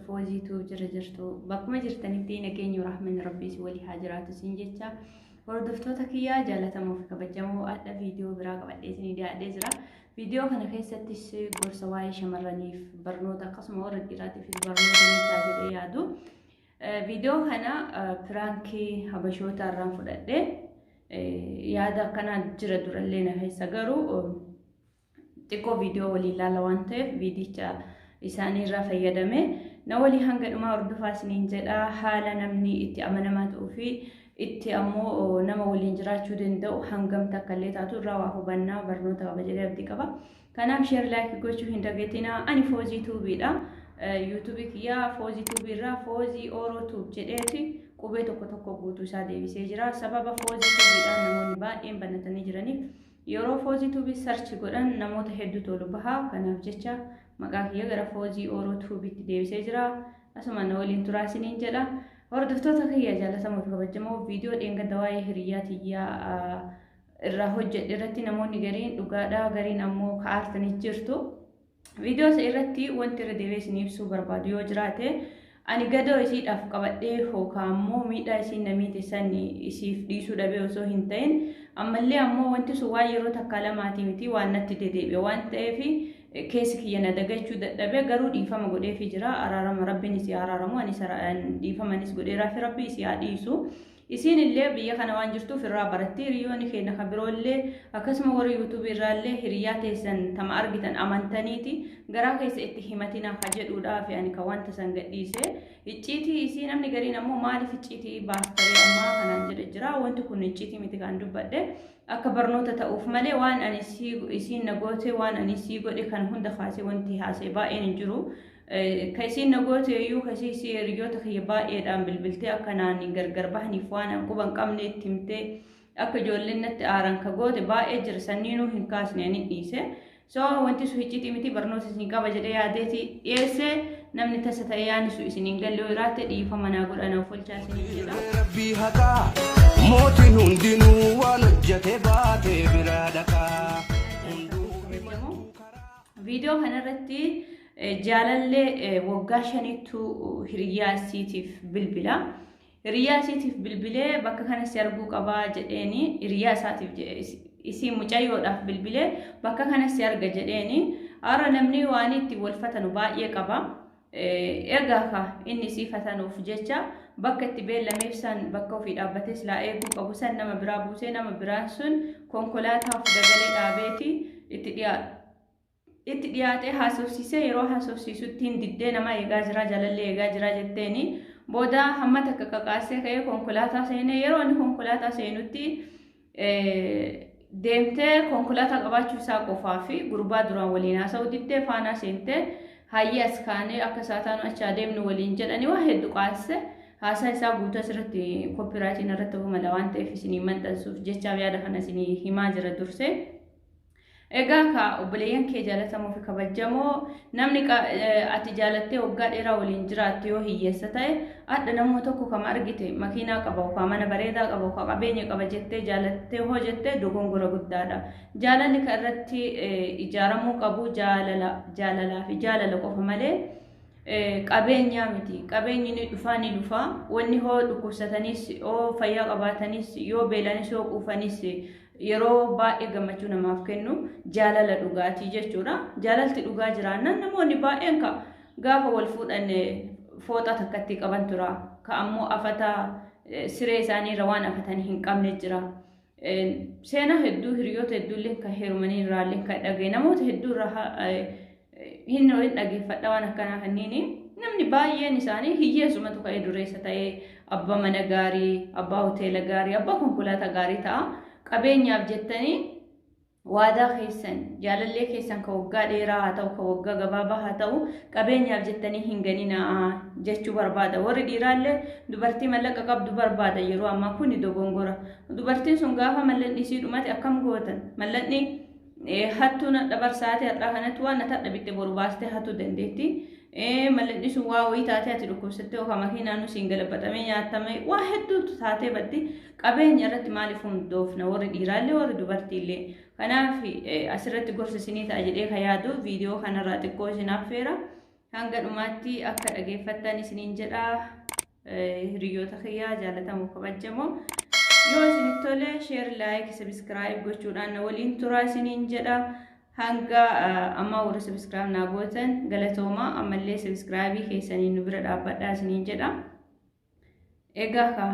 Fooziitu jira jirtu bakkuma jirtanitti nageenyi rahmanni rabbiis walii haa jiraatu siin jecha hordoftoota kiyyaa jaalatamoo fi kabajamoo adda viidiyoo biraa qabadhee isinii dhiyaadhee jira. Viidiyoo kana keessattis gorsa waa'ee shamarraniif barnoota akkasuma warra dhiiraatiif barnoota ni ta'a jedhee yaadu. Viidiyoo kana piraankii habashoota irraan fudhadhee yaada akkanaa jira durallee na keessa garuu xiqqoo viidiyoo waliin laala waan ta'eef viidicha isaanii irraa fayyadame na walii hanga dhumaa hordofaa isiniin jedha haala namni itti amanamaa ta'uu fi itti ammoo nama waliin jiraachuu danda'u hangam takka illee taatu irraa waa hubannaa barnoota qaba jedhee abdii qaba. Kanaaf sheer laayikii gochuu hin dagatinaa ani foozii tuubiidha. Yuutuubii kiyyaa foozii tuubii irraa foozii ooroo tuub jedheeti qubee tokko tokko guutuu isaa deebisee jira. Sababa foozii tuubiidhaan namoonni baay'een banatanii jiraniif Yeroo Foozii Tuubii search godhan namoota hedduutu ol baha. Kanaaf jecha maqaa kiyya gara Foozii Ooroo Tuubiitti deebisee jira. Asuma na waliin turaa isiniin jedha. Hordoftoota kiyya jaalatamoo fi kabajamoo viidiyoo dheengadda waa'ee hiriyyaa tiyyaa irraa hojjedhe irratti namoonni gariin dhugaadhaa gariin ammoo ka'aartanii jirtu. Viidiyoo isa irratti wanti irra deebi'ee isin ibsuu barbaadu yoo jiraate ani gadoo isiidhaaf qabadhee hookaa ammoo miidhaa isiin namiiti san isiif dhiisuu dhabee osoo hin ta'in ammallee ammoo wanti sun waan yeroo takkaa lamaatii miti waan natti dedeebi'e waan ta'eef keessi kiyya na dagachuu dadhabee garuu dhiifama godheefi jira araarama rabbiin isii araaramu anis dhiifamanis godheeraafi rabbi isii haa dhiisu. Isiin illee biyya kana waan jirtuuf irraa baratti hiriyooni keenna ka biroo illee akkasuma warri YouTube irraa illee hiriyaa teessan tama argitan amantaniiti garaa keessa itti himatina ka jedhuudhaafi ani ka wanta san gadhiise icciitii isii namni gariin ammoo maaliif icciitii baastaree ammaa kanaan jedhe jira wanti kun icciitii miti kan dubbadhe akka barnoota ta'uuf malee waan ani isiin na goote waan ani isii godhe kan hunda kaasee wanti haasee baay'een hin jiru Ka isiin na goote iyyuu ka isii isii hiriyoota kiyya baay'eedhaan bilbiltee akka naan hin gargar bahaniif waan an quba hin qabne itti himtee akka ijoolleen natti aaran ka goote baay'ee jira sanniinuu hin kaasne ani dhiise. So wanti sun hiccitii miti barnoota isin qaba jedhee yaadeeti dhiyeesse namni tasa ta'ee yaani sun isin hin galle iraatte dhiifama naa godha naaf olchaa isin jedha. Rabbii haqaa mootiin hundinuu waan hojjete baatee biraa dhaqaa. Viidiyoo kanarratti Jaalallee waggaa shaniittu hiriyyaa isiitiif bilbila. Hiriyyaa isiitiif bilbilee bakka kana si arguu qabaa jedheeni hiriyyaa isaatiif jedhe isii mucayyoodhaaf bilbilee bakka kana si arga jedheeni har'a namni waan itti wal fatanu baay'ee qaba. Egaa ka inni isii fatanuuf jecha bakka itti beellameef san bakka ofii dhaabbatee silaa eeguu qabu san nama biraa buusee nama biraan sun konkolaataa of dagalee dhaabeeti itti dhiyaatu. itti dhiyaatee haasofsiisee yeroo haasofsiisutti hin diddee nama eegaa jira jaalallee eegaa jira jetteeni booda hamma takka kakaasee ka'ee konkolaataa seenee yeroo inni konkolaataa seenutti deemtee konkolaataa qabaachuu isaa qofaa fi gurbaa duraan waliin haasa'u diddee faanaa seentee hayyee as kaanee akka isaa taanu achi adeemnu waliin jedhanii waa hedduu qaasise haasaa isaa guutuu asirratti koppiraatiin irratti humala waan ta'eef isinii maxxansuuf jechaaf yaada kana isinii himaa jira dursee. Egaa kaa obboleeyyan kee jaalatamoo fi kabajamoo namni ati jaalattee waggaa dheeraa waliin jiraattu yoo hiyyeessa ta'e adda namoo tokko kama argite makiinaa qaba ukaa mana bareedaa qaba ukaa qabeenya qaba jettee jaalattee hoo jettee dogongora guddaadha. Jaalalli kan irratti ijaaramuu qabu jaalala jaalalaa fi jaalala qofa malee qabeenyaa miti. Qabeenyi ni dhufaa ni dhufaa wanni hoo dhukkubsatanis yoo fayyaa qabaatanis yoo beelanis yoo quufanis Yeroo baay'ee gammachuu namaaf kennu jaalala dhugaatii jechuudha. Jaalalti dhugaa jiraannaan namoonni baay'een ka gaafa wal fuudhan fooxaa takkatti qaban tura. Ka ammoo afata siree isaanii irra waan afatan hin qabne jira. Seenaa hedduu hiriyoota hedduullee kan heerumanii irraallee kan dhagaye namoota hedduu irraa hin hin dhageeffadha waan akkanaa kanniini namni baay'een isaanii hiyyeessumatu ka'ee dureessa ta'ee abbaa mana gaarii abbaa hoteela gaarii abbaa konkolaataa gaarii ta'a qabeenyaaf jettanii waadaa keessan jaalallee keessan ka waggaa dheeraa haa ta'u ka waggaa gabaabaa haa ta'u qabeenyaaf jettanii hin ganinaa jechuu barbaada warri dhiiraallee dubartii mallaqa qabdu barbaada yeroo ammaa kuni dogongora dubartiin sun gaafa mallaqni isii dhumate akkam gootan mallaqni Hattuu nadha barsaate har'aa kanatti waan nata dhabitte boru baastee hatuu dandeetti. Mallinni sun waa wayii taatee ati dhukkubsattee ofa makiinaanuu siin galabaxamee nyaatame waa hedduutu taatee baddi qabeenya irratti maaliif hundoofna warri dhiiraallee warri dubartiillee. Kanaaf asirratti gorsa isinii ta'a jedhee ka yaadu viidiyoo kanarraa xiqqoo isin affeera. Hanga dhumaatti akka dhageeffattan isiniin jedha hiriyoota kiyyaa jaalatamu kabajamoo. Yoo isin tole sheer laayik sabiskiraayib gochuudhaan na waliin turaa isiniin jedha. Hanga ammaa warra sabiskiraayib naa gootan galatoomaa ammallee sabiskiraayibii keessaniin nu bira dhaabbadhaa isiniin jedha. Egaa kaa.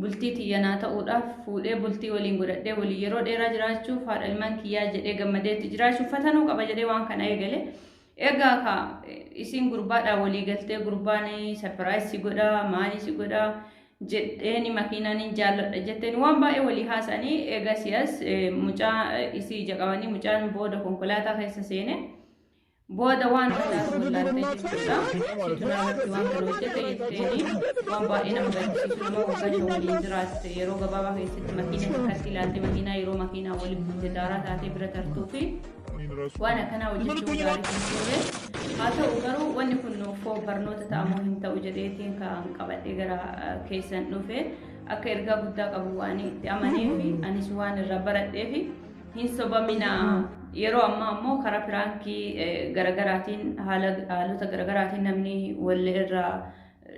Bultii tiyya naa ta'uudhaaf, fuudhee bultii waliin godhadhee waliin yeroo dheeraa jiraachuuf, haadha ilmaan kiyyaa jedhee gammadee itti jiraachuuf fatanuu qaba jedhee waan kana eegale. Egaa ka isiin gurbaadhaan walii galtee gurbaan sarpiraayis si godha, maali si godha jedheeni makiinaan hin jaalladha jetteen waan baay'ee walii haasa'anii egaa siyas mucaa isii ija qabanii mucaan booda konkolaataa keessa seene. Booda waan hundaa nu wallaaltee jechuudha. Situ naarratti waan kana hojjete jetteeni waan baay'ee nama gaddisiisu nama waggaa shan waliin jiraatte yeroo gabaabaa keessatti makiina takkatti ilaalte makiinaa yeroo makiinaa wali buute daaraa taatee bira tartuu fi waan akkanaa hojjechuun gaarii kan ture. Haa ta'u garuu wanni kun nuuf barnoota ta'amuu hin ta'u jedheetiin kan qabadhee gara keessan dhufe akka ergaa guddaa qabu waan itti amanee fi anis waan irraa baradhee fi Hin sobamina. Yeroo ammaa ammoo karaa piraankii garagaraatiin haala haalota garagaraatiin namni wal irraa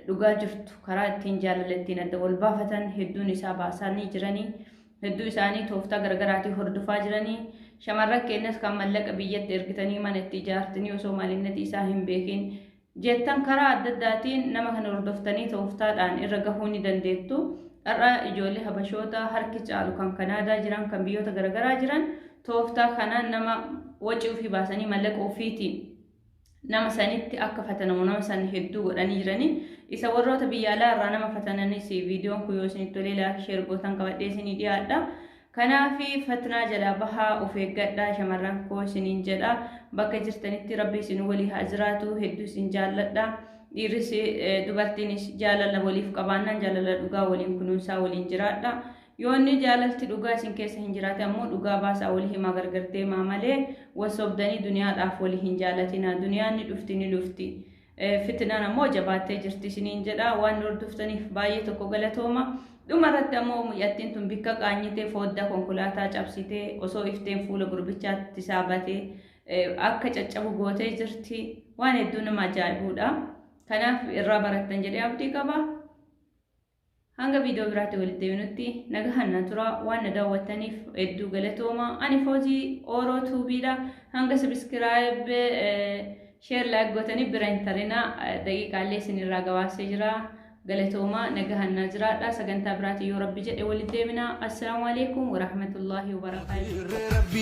dhugaa jirtu karaa ittiin jaalala ittiin adda wal baafatan hedduun isaa baasanii jiranii hedduu isaanii tooftaa garagaraatiin hordofaa jiranii shamarran keenyas kan mallaqa biyyatti ergitanii mana itti ijaartanii osoo maalinnati isaa hin beekin jettan karaa adda addaatiin nama kana hordoftanii tooftaadhaan irra gahuu ni dandeettu. Har'a ijoollee habashoota harki caalu kan Kanaadaa jiran kan biyyoota garaagaraa jiran tooftaa kana nama wacii ofii baasanii mallaqa ofiitiin nama sanitti akka fatanamu nama san hedduu godhanii jiranii isa warroota biyya alaa irraa nama fatananis viidiyoon kun yoo isinitti tolee laayik sheer gootan qabadhee isinii dhiyaadha. Kanaafi fatnaa jalaa bahaa of eeggadhaa shamarran koo isiniin jedha. Bakka jirtanitti Rabbi isin walii haa jiraatu hedduu isin jaalladha. Dhiirris eh, dubartiinis jaalala waliif qabaannaan jaalala dhugaa waliin kunuunsaa waliin jiraadha. Yoo inni jaalalti dhugaa isin keessa hin jiraate ammoo dhugaa baasaa walii himaa gargar deemaa malee wal sobdanii duniyaadhaaf walii hin jaalatinaa. Duniyaan ni dhufti ni lufti. Fitinan ammoo jabaattee jirti isiniin jedha. Waan hordoftaniif baay'ee tokko galatooma. Dhuma irratti ammoo mucattiin tun bikka qaanyitee fooddaa konkolaataa cabsitee osoo ifteen fuula gurbichaatti isaa batee akka caccabu gootee jirti. Waan hedduu nama ajaa'ibuudha. Kanaaf irraa barattan jedhee abdii qaba. Hanga viidiyoo biraatti walitti deebinutti nagahan na tura waan na daawwattaniif hedduu galatooma. Ani Foozii Ooroo Tuubiidha. Hanga sabiskiraayib sheer laayik gootanii bira hin tarina daqiiqaallee isinirraa gabaasee jira. Galatooma nagahan na jiraadha. Sagantaa biraatiin yoo rabbi jedhe walitti deebina. Assalaamu alaikum warahmatullaahi wabarakaatuh.